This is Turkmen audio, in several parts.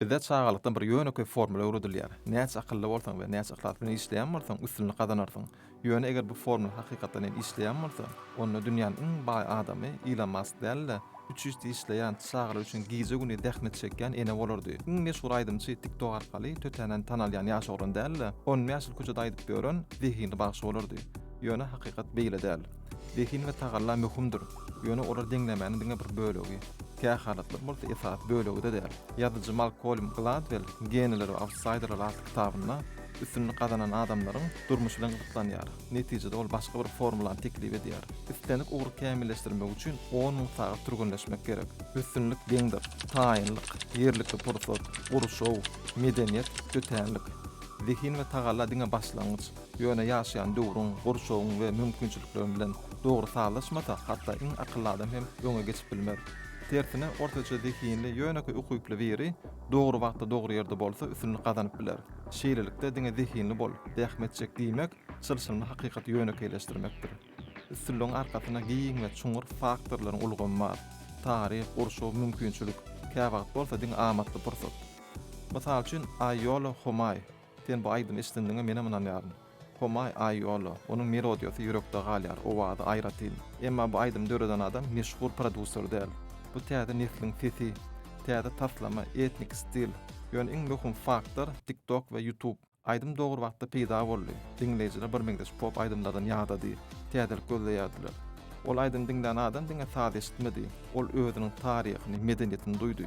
Bizde çagalykdan bir ýönekeý formula öwredilýär, näçe akylly bolsaň we näçe yhlas bilen işleýän bolsaň, üstünlik gazanarsyň. Ýöne eger bu formula hakykatdan hem işleýän bolsa, onda dünýäniň iň baý adamy Ilon Mask däl-de, üç işde işleýän, çagalary üçin gije-gündiz zähmet çekýän ene bolardy. Iň meşhur aýdymçy TikTok arkaly tötänden tanalýan ýaş oglan däl-de, on bäş ýyl köçede aýdyp ýören zehinli bagşy bolardy. Ýöne hakykat beýle däl. Zehin we tagalla möhümdir, ýöne olar deňlemäniň diňe bir bölegi. Kähalatlar bolsa esasy bölegi-de däl. Ýazyjy Malkolm Gladwell Geniler we autsaýderler atly kitabynda üstünlik gazanan adamlaryň durmuşy bilen gyzyklanýar. Netijede ol başga bir formulany teklip edýär. Islendik ugry kämilleşdirmek üçin on müň sagat türgenleşmek gerek. Üstünlik deňdir. Taýynlyk, ýerlikli pursat, gurşaw, medeniýet, tötänlik. Zehin we tagalla diňe başlangyç. Ýöne ýaşaýan döwrüň, gurşawyň we mümkinçilikleriň bilen dogry sazlaşmasa, hatda iň akylly adam hem öňe geçip bilmez. Tersine, ortaça zehinli, ýönekeý ukyply biri dogry wagtda dogry ýerde bolsa üstünlik gazanyp biler. Şeýlelikde, diňe zehinli bol, zähmet çek diýmek, çylşyrymly hakykaty ýönekeýleşdirmekdir. Üstünligiň arkasynda giň we çuňňur faktorlaryň ulgamy bar. Taryh, gurşaw, mümkinçilik, käwagt bolsa diňe amatly pursat. Mysal üçin, Aýýola Homaý, Sen bu aýdymy eşdendiňe menem ynanýaryn. Homay Aýola, onuň melodiýasy ýürekde galýar, owazy aýratyn. Emma bu aýdymy döreden adam meşhur produsser däl. Bu täze nesliň sesi, täze taslama, etnik stil. Ýöne iň möhüm faktor TikTok we YouTube. Aýdym dogry wagtda peýda boldy. Diňleýjiler birmeňzeş pop aýdymlardan ýadady, täzelik gözleýärdiler. Ol aýdymy diňlän adam diňe saz eşitmedi. Ol özüniň taryhyny, medeniýetini duýdy.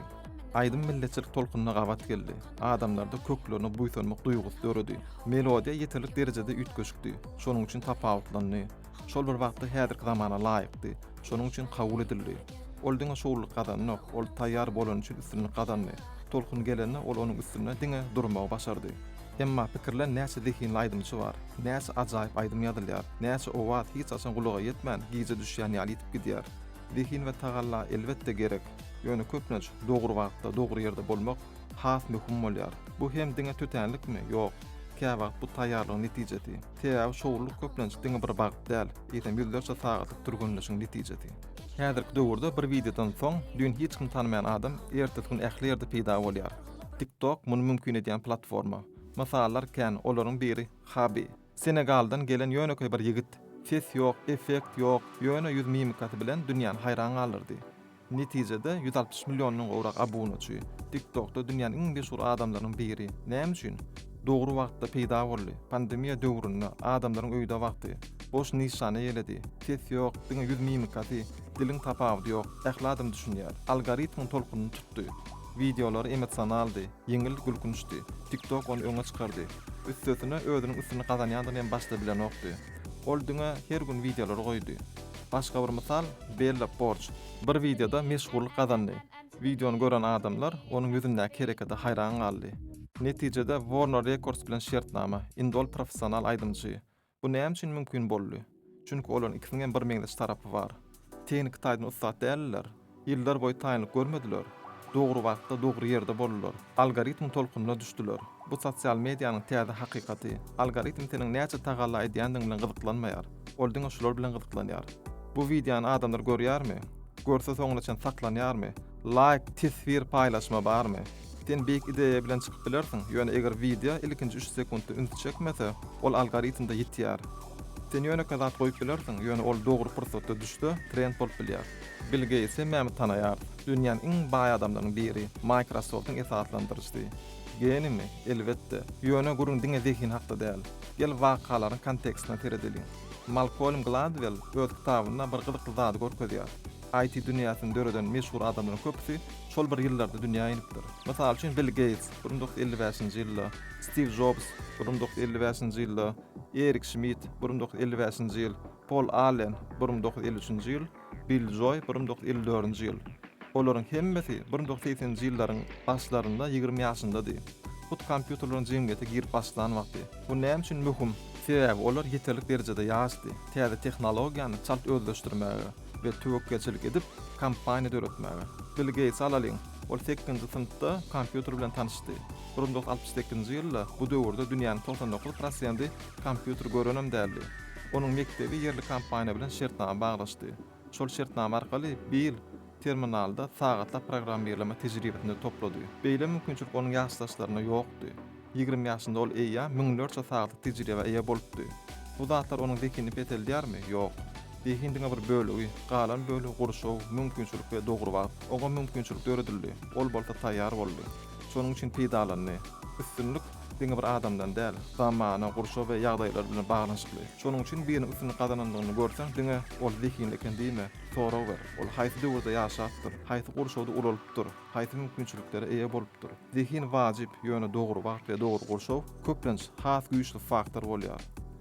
Aýdym milletçilik tolkunyna gabat geldi, adamlarda köklerine buýsanmak duýgusy döredi. Melodiýa ýeterlik derejede üýtgeşikdi, şonuň üçin tapawutlandy. Şol bir wagtda häzirki zamana laýykdy, şonuň üçin kabul edildi. Ol diňe şowlulyk gazandyok, ol taýýar bolany üçin üstünlik gazandy. Tolkun gelende ol onuň üstünde diňe durmagy başardy. Emma pikirlen näçe zehinli aýdymçy bar, näçe ajaýyp aýdym ýazylýar, näçe owaz hiç haçan gulaga ýetmän gije düşýän ýaly ýitip gidýär. Zehin we tagalla elbetde gerek, ýöne köplenç dogry wagtda, dogry ýerde bolmak has möhüm bolýar. Bu hem diňe tötänlikmi? Ýok. Käwagt bu taýýarlygyň netijesi. Sebäbi şowlulyk köplenç diňe bir wagt däl, eýsem ýüzlerçe sagatlyk türgenleşigiň netijesi. Häzirki döwürde bir wideodan soň düýn hiç kim tanamaýan adam ertesi gün ähli ýerde peýda bolýar. Tik-tok muny mümkin edýän platforma. Mysallar kän, olaryň biri Habi. Senegaldan gelen ýönekeý bir ýigit, ses ýok, effekt ýok, ýöne ýüz mimikasy bilen dünýäni haýran galdyrdy. Netijede, ýüz altmyş milliondan gowrak abunaçy, TikTok-da dünýäniň iň meşhur adamlarynyň biri. Näme üçin? Dogry wagtda peýda boldy. Pandemiýa döwründe, adamlaryň öýde wagty, boş nyşana ýeledi. Ses ýok, diňe ýüz mimikasy, diliň tapawudy ýok, ähli adam düşünýär. Algoritmiň tolkunyny tutdy. Wideolary emosionaldy, Ýeňil gülkünçdi. TikTok ony öňe çykardy. Üstesine özüniň üstüni gazanýandygyny hem başda bilenokdy. Ol diňe her gün wideolary goýdy. Başga bir mysal, Bella Porç. Bir wideoda meşhurlyk gazandy. Wideony gören adamlar onuň ýüzündäki herekete haýran galdy. Netijede Warner Records bilen şertnama, indi ol professional aýdymçy. Bu näme üçin mümkin boldy? Çünki olaryň ikisiniň hem birmeňzeş tarapy bar. Tehniki taýdan ussat däldiler. Ýyllar boýy taýynlyk görmediler. Dogry wagtda, dogry ýerde boldular. Algoritmiň tolkununa düşdüler. Bu sosial medianyň täze hakykaty. Algoritm seniň näçe tagalla edýändigiň bilen gyzyklanmaýar. Ol diňe şular bilen gyzyklanýar. Bu wideony adamlar görýärmi? Görse soňuna çen saklanýarmy? Laýk, teswir, paýlaşma barmy? Sen beýik ideýa bilen çykyp bilersiň, ýöne eger wideo ilkinji üç sekuntda üns çekmese, ol algoritmde ýitýär. Sen ýönekeý zat goýup bilersiň, ýöne ol dogry pursatda düşse, trend bolup bilýär. Bill Geýts hemmämiz tanaýarys. Dünýäniň iň baý adamlarynyň biri, Microsoft-yň esaslandyryjysy. Genimi? Elbetde. Ýöne gürrüň diňe zehin hakda däl. Gel wakalaryň kontekstine seredeliň. Malkolm Gladwell öz kitabynda bir gyzykly zady görkezýär. IT dünýäsini döreden meşhur adamlaryň köpüsi şol bir ýyllarda dünýä inipdir. Mysal üçin, Bill Geýts, bir müň dokuz ýüz elli bäşinji ýylda, Stiw Jobs, bir müň dokuz ýüz elli bäşinji ýylda, Erik Şmit, bir müň dokuz ýüz elli bäşinji ýyl, Pol Allen, bir müň dokuz ýüz elli üçünji ýyl, Bill Joý, bir müň dokuz ýüz elli dördünji ýyl. Olaryň hemmesi bir müň dokuz ýüz segseninji ýyllaryň başlarynda ýigrimi ýaşyndady. Hut kompýuterleriň jemgyýete girip başlan wagty. Bu näme üçin möhüm? Sebäbi olar ýeterlik derejede ýaşdy täze tehnologiýany çalt özleşdirmäge. we töwekgelçilik edip, kompaniýa döretmäge. Bill Geýtsi alalyň. Ol sekizinji synpda kompýuter bilen tanyşdy. Bir müň dokuz ýüz altmyş sekizinji ýylda bu döwürde dünýäniň togsan dokuz prosendi kompýuter görenem däldi. Onuň mekdebi ýerli kompaniýa bilen şertnama baglaşdy. Şol şertnama arkaly Bill terminalda sagatlap programmirleme tejribesini toplady. Beýle mümkinçilik onuň ýaşdaşlarynda ýokdy. Ýigrimi ýaşynda ol eýýäm müňlerçe sagatlyk tejribä eýe bolupdy. Bu zatlar onuň zehinini peseldýärmi? Ýok. Zehin diňe bir bölegi, galan bölegi gurşaw, mümkinçilik we dogry wagt. Oňa mümkinçilik döredildi, ol bolsa taýýar boldy. Şonuň üçin peýdalandy. Üstünlik diňe bir adamdan däl, zamana, gurşaw we ýagdaýlar bilen baglanyşykly. Şonuň üçin biriniň üstünlik gazanandygyny görseň diňe ol zehinli eken diýme, sorag ber, ol haýsy döwürde ýaşapdyr, haýsy gurşawda ulalypdyr? Haýsy mümkinçiliklere eýe bolupdyr? Zehin wajyp, ýöne dogry wagt we dogry gurşaw, köplenç, has güýçli faktor bolýar.